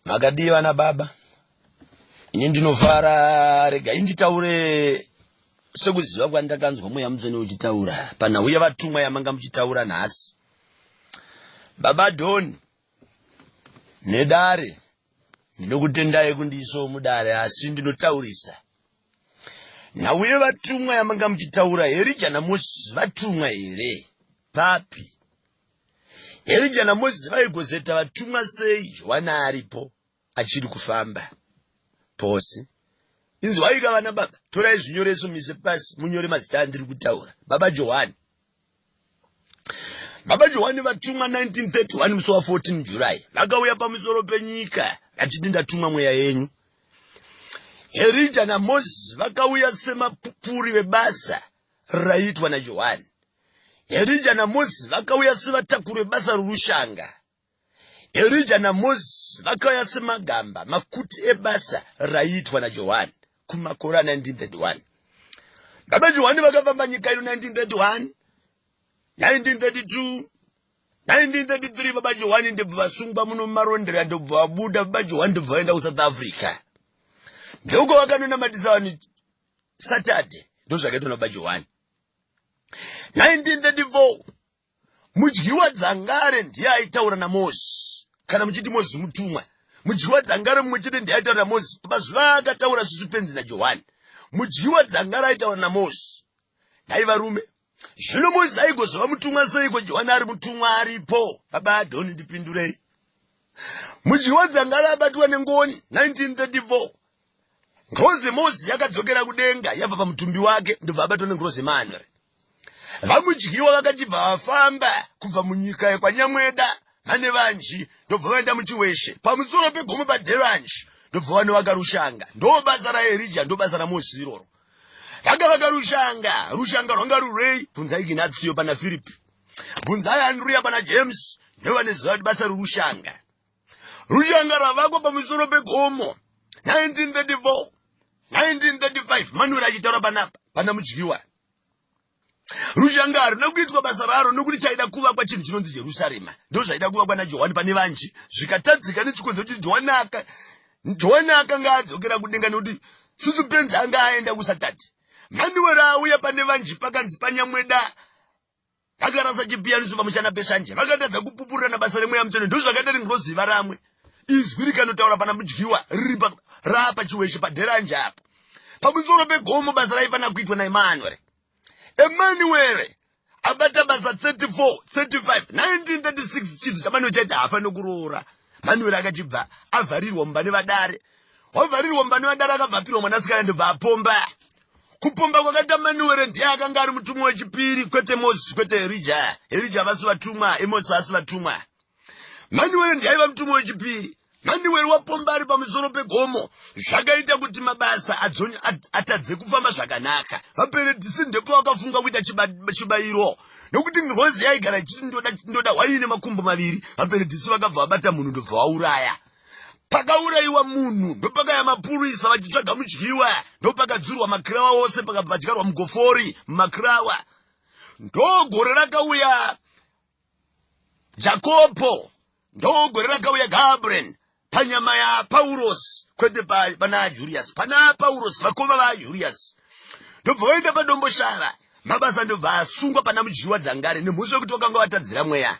Makadii vana baba? Ini ndinofara, regai nditaure sekuziva kwandakanzwa mweya mutsvene uchitaura panhau yevatumwa yamanga muchitaura nhasi. Baba Don, nedare, ndinokutendai kundiisawo mudare asi ndinotaurisa. Nhau yevatumwa yamanga muchitaura, Herija naMosisi vatumwa here? Papi? Erija naMozisi vaigozeta vatumwa sei Johani aripo achiri kufamba pose? Inzwaika vana baba, torai zvinyoreso mise pasi munyore mazita andiri kutaura. Baba Johani. Baba Johani vatumwa 1931 musi wa 14 July vakauya pamusoro penyika vachiti ndatumwa mweya yenyu. Erija naMozisi vakauya semapupuri vebasa raiitwa naJohani. Erija naMosi vakauya sevatakuri vebasa rorushanga. Erija naMosi vakauya semagamba makuti ebasa raiitwa naJohani kumakore a1931. Baba Johani vakafamba nyika ino 1931, 1932, 1933 baba Johani ndobva vasungwa muno mumarondera ndobva vabuda baba Johani ndobva vaenda kuSouth Africa. Ndouko vakanonamatisa vanhu Saturday ndozvakaitwa nababa Johani. 1934 mudyiwa dzangare ndiye aitaura namozi kana muchiti mozi mutumwa mudyiwa dzangare mumwe chete ndiye aitaura namozi mazuva akataura susu penzi najohani mudyiwa dzangare aitaura namozi nhai varume zvino mozi aigozova mutumwa seiko johani ari mutumwa aripo baba adhoni ndipindurei mudyiwa dzangare abatwa nengoni 1934 Ngirozi yeMozi yakadzokera kudenga yabva pamutumbi wake ndobva abatwa nengirozi yemanwe. VaMudyiwa vakachibva vafamba kubva munyika yekwaNyamweda Manevanji ndobva vaenda muChiweshe pamusoro pegomo paDhevanji ndobva vanovaka rushanga. Ndobasa raErija ndobasa raMozi iroro. Vakavaka rushanga, rushanga rwanga rurei? Bvunzai Ginatio pana Firipi. Bvunzai Andrea pana James ndovaneziva kuti basa rorushanga. Rushanga ravakwa pamusoro pegomo 1934 1935 Manuel achitaura panapa pana mudyiwa rushanga harina kuitwa basa raro nokuti chaida kuvakwa chinhu chinonzi jerusarema ndo zvaida kuvakwa najohani pane vanji zvikatadzika nechikonzo kuti johani aka johani akanga adzokera kudenga nekuti susu penzi anga aenda kusatati manuwero auya pane vanji pakanzi panyamweda akarasa chipiyaniso pamushana peshanje vakatadza kupupurirana basa remweya mutsvene ndozvakaita ringirozi varamwe izwi rikanotaura pana mudyiwa riri raapa chiweshe padheranje apo pamusoro pegomo basa raifanira kuitwa naemanuere emanuere abata basa 34 35 1936 chidzo chamanio chaiti haafanire kuroora manuere akachibva avharirwa mumba nevadare wavharirwa mumba nevadara akabva apirwa mwanasikana ndobva apomba kupomba kwakaita manuwere ndiye akanga ari mutumwa wechipiri kwete moses kwete erija erija vasi vatumwa emosi asi vatumwa manuwere ndiye aiva mutumwa wechipiri manuwere wapomba ari pamusoro pegomo zvakaita kuti mabasa atadze kufamba zvakanaka vaperedhisi ndepo vakafunga kuita chibayiro nokuti ngozi yaigara ichiti ndoda hwaii nemakumbo maviri vaperedhisi vakabva vabata munhu ndobva wauraya pakaurayiwa munhu ndopakaya mapurisa vachitsvaga mudyiwa ndopakadzurwa makirawa ose pakabva dyarwa mugofori mumakirawa ndogore rakauya jakopo ndogore rakauya gabriel panyama yapaurosi kwete pana julius pana paurosi vakoma vajulius ndobva vaenda padomboshava mabasa ndobva asungwa pana mudyiwa dzangare nemhosva yekuti vakanga vatadzira mweya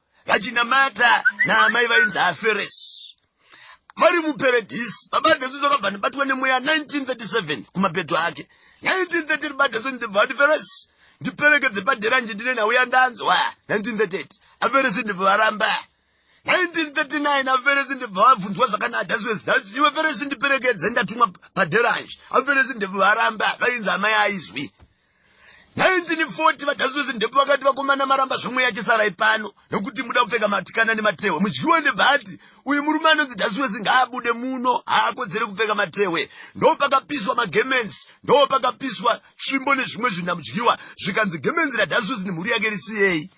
vachinamata naamai vainzi aferesi vari muperedhisi baba desu zvakabva ndibatwa nemweya 1937 kumapeto ake 1930 ribadesu ndibva vatiferesi ndiperekedze padera nje ndine nhau yandanzwa 1938 aferesi ndibva varamba 1939 aferesi ndibva vabvunzwa zvakanadaswesdas iwe feresi ndiperekedze ndatumwa paderanje aferesi ndibva varamba vainzi amai aizwi 1940 vagazuzi ndepo vakati vakomana maramba zvomwe yachisarai pano nokuti muda kupfeka matikana nematehwe mudyiwe ndebhati uyu murume anonzi dasuwesi ngaabude muno haakodzere kupfeka matehwe ndo pakapiswa magemens ndo pakapiswa svimbo nezvimwe zvinhu namudyiwa zvikanzi gemens radasuwesi nemhuri yake risiyei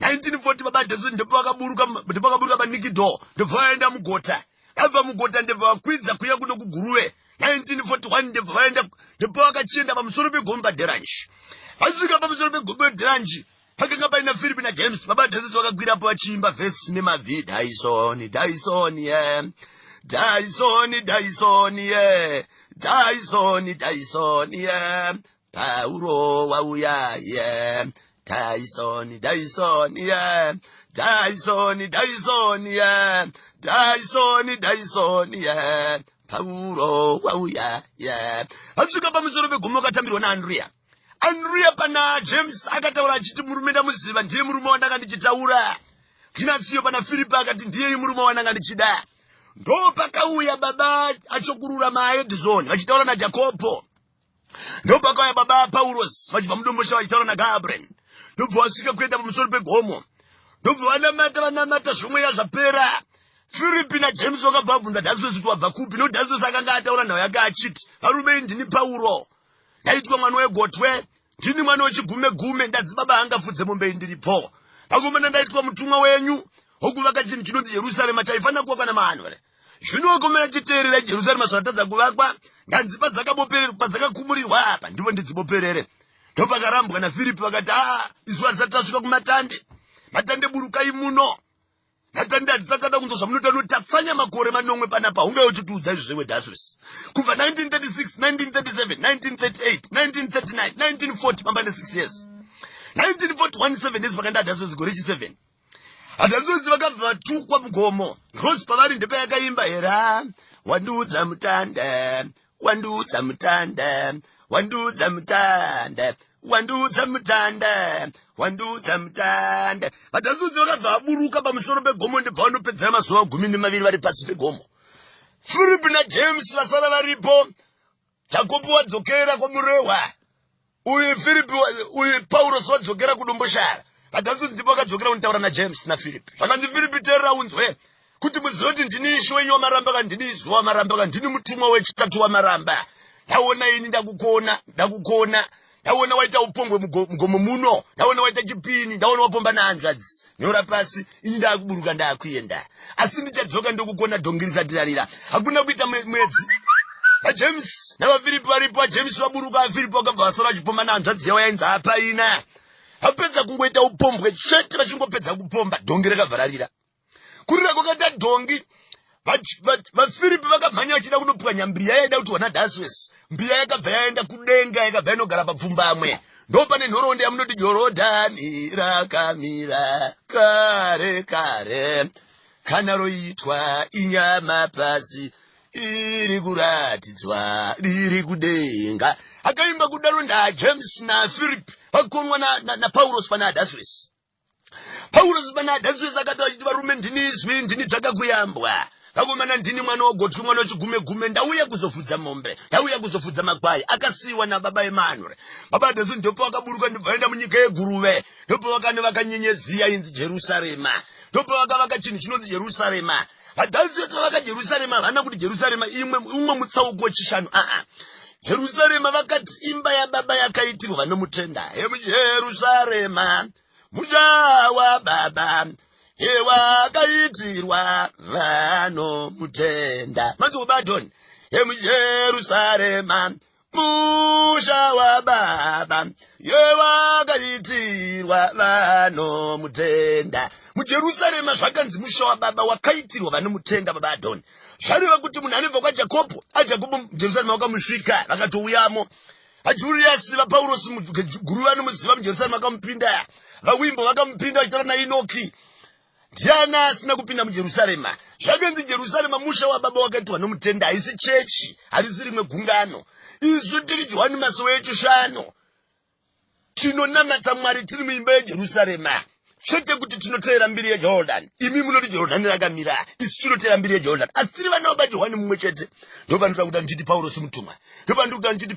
1940 baba dasuwesi ndepo vakaburuka ndepo vakaburuka panikido ndobva vaenda mugota vabva mugota ndebva vakwidza kuya kuno kuguruve 1941 ndebva vaenda ndipo vakachienda pamusoro pegomba deranji vasvika pamusoro pegomba deranji pakanga paina philipi najames baba dhasisi vakakwirapo vachiimba vhesi nemabvi dyson dyson ye yeah. dyson dyson ye yeah. dyson dyson ye yeah. pauro wauya ye daisoni daisoni ye daisoni daisoni ye daisoni daisoni ye pauro wauya ye asvika pamusoro pegomo akatambirwa naandriya andriya pana james akataura achiti murume ndamuziva ndiye murume wandanga ndichitaura kinatsiyo pana firipi akati ndiyeyi murume wandanga ndichida ndopakauya baba achokurura maedison vachitaura najakobho ndopakauya baba apaurosi vachibva mudombosha vachitaura nagabriel ndobva vasvika kuenda pamusoro pegomo ndobva vanamata vanamata zvomweya zvapera firipi najames vakabva vabvunza dhazvesi kuti wabva kupi no dhazvesi akanga ataura nhau yake achiti varume indini pauro ndaitwa mwana wegotwe ndini mwana wechigume gume ndadzibaba angafudze mombe indiripo pangomana ndaitwa mutumwa wenyu wokuvaka chinhu chinonzi jerusarema chaifanira kuva kana mahanwere zvino wakomera chiteerera jerusarema zvatadza kuvakwa nganzi padzakakumurirwa apa ndipo ndidziboperere ndopakarambwa nafiripi vakati haa ah, isu hatisati tasvika kumatande matande burukai muno matande hatisachada kunzwa zvamunotano tatsanya makore manomwe panapa hunge uchitiudza izvo zvewedaswes kubva 1936193719391940 pamba ne6 years 1941 7 years pakandadaswes gore chi 7 Hanzvadzi vakabva vatukwa mugomo. Rose pavari ndepayakaimba era wandiudza mutanda wandiudza mutanda wandiudza mutanda wandiudza mutanda wandiudza mutanda vatanzudzi vakabva vaburuka pamusoro pegomo ndepavanopeddera mazuva gumi nemaviri vari pasi pegomo philip najames vasara varipo Jakobo wadzokera kwamurehwa uyu Philip uyu Paulos wadzokera kudomboshara vadanzi ndivo vakadzokera kunitaura naJames naPhilip zvakanzi Philip terera unzwe kuti muzive kuti ndini ishi wenyu wamaramba ka ndini izwi wamaramba ka ndini mutumwa wechitatu wamaramba ndaona ini ndakukona ndakukona ndaona waita upongwe mugomo muno ndaona waita chipini ndaona wapomba nahanzvadzi nyora pasi ini ndaakuburuka ndaakuenda asi ndichadzoka ndokukona dhongi risatirarira hakuna kuita mwedzi vajames navafiripi varipo vajames vaburuka vafiripi vakabva vasara vachipomba nahanzvadzi yavo yainzi hapaina vapedza kungoita upombwe chete vachingopedza kupomba dhongi rakavhararira kurira kwakaita dhongi vafiripi vakamhanya vachida kunopwanya mbiya yaida kuti wana daswes mbiya yakabva yaenda kudenga yakabva inogara papfumbamwe ndo pane nhoroondo yamunoti jorodhani rakamira kare kare kana roitwa inyama pasi iri kuratidzwa riri kudenga akaimba kudaro najames nafiripi vakonwa napaurosi pana adaswesi pauro zibana adaswesa akati vachiti varume ndini izwi ndini tsvaka kuyambwa vakomana ndini mwana wogotwi mwana wechigume gume ndauya kuzofudza mombe ndauya kuzofudza makwai akasiyiwa nababa emanure baba adaswe ndopo vakaburuka ndobvaenda munyika yeguruve ndopo vakane vakanyenyedziya inzi jerusarema ndopo vakavaka chinhu chinonzi jerusarema VaDhavhidhi pavaka Jerusarema havana kuti Jerusarema imwe umwe mutsauko wechishanu aa Jerusarema vakati imba yababa yakaitirwa vanomutenda Jerusarema musha wababa ewakaitirwa vanomutenda manzi ubadhoni emujerusarema musha wababa yewakaitirwa vanomutenda mujerusarema zvakanzi musha wababa wakaitirwa vanomutenda baba adhoni zvareva kuti munhu anobva kwajakobho ajakobho mujerusarema wakamusvika vakatouyamo ajuriyasi vapaurosi guru vanomuziva mujerusarema vakamupinda vawimbo vakamupinda vachitora nainoki Ndiani asina kupinda muJerusarema? Zvatonzi Jerusarema musha wababa wakaitirwa nomutenda, haisi chechi, harisi rimwe gungano. Isu tiri Johani masowe echishanu, tinonamata Mwari tiri muimba yeJerusarema chete kuti tinoteera mbiri yejordan imi munoti jordan rakamira isu tinoteera mbiri yejordan asi tiri vana vabati hwani mumwe chete ndopandikuta kuti andichiti paurosi mutumwa ndopandikuta andichiti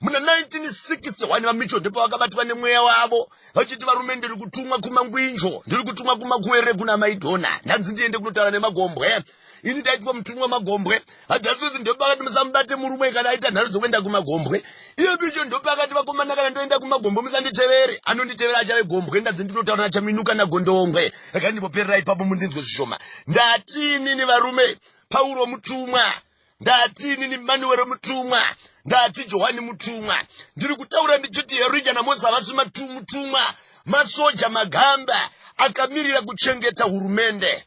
muna 1961 vamicho ndipo vakabatwa nemweya wavo vachiti varume ndiri kutumwa kumangwinjo ndiri kutumwa kumakuwerere kuna maidhona ndanzi ndiende kunotaura nemagombwe ini ndaitwa mutumwa magombwe hadhasizi ndopa akati musamubate murume kana aita nharo dzokuenda kumagombwe iyo picho ndopa akati vakomana kana ndoenda kumagombwe musanditevere anonditevera achave gombwe ndanzi ndinotaura nachaminuka nagondongwe rakandimboperera ipapo mundinzwe zvishoma ndatini nevarume pauro mutumwa ndati inini manuwero mutumwa ndati johani mutumwa ndiri kutaura ndichiti herija namosi havasi mutumwa masoja magamba akamirira kuchengeta hurumende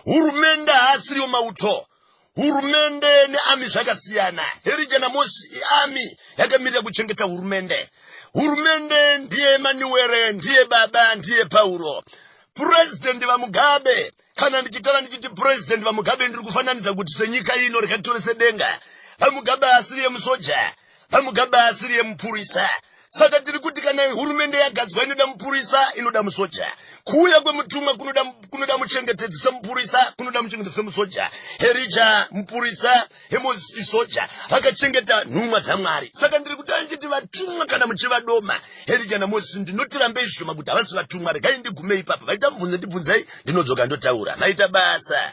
hurumende haasiriyo mauto hurumende neami zvakasiyana herija namosi iami yakamirira kuchengeta hurumende hurumende ndiye manuwere ndiye baba ndiye pauro purezidhendi vamugabe kana ndichitara ndichiti purezidhendi vamugabe ndiri kufananidza kuti senyika ino rikatore sedenga vamugabe asiri yemusoja vamugabe asiri yemupurisa saka tiri kuti kana hurumende yagadzwa inoda mupurisa inoda musoja kuuya kwemutumwa kunoda muchengetedzi semupurisa kunoda muchengetedzi semusoja herija mupurisa Amos isoja rakachengeta nhumwa dzamwari saka ndiri kutaura ndichiti vatumwa kana muchivadoma herija namozisi ndinoti rambei zvishoma kuti havasi vatumwa regai ndigumei ipapo vaita mubvunzo ndibvunzei ndinodzoka ndotaura maita basa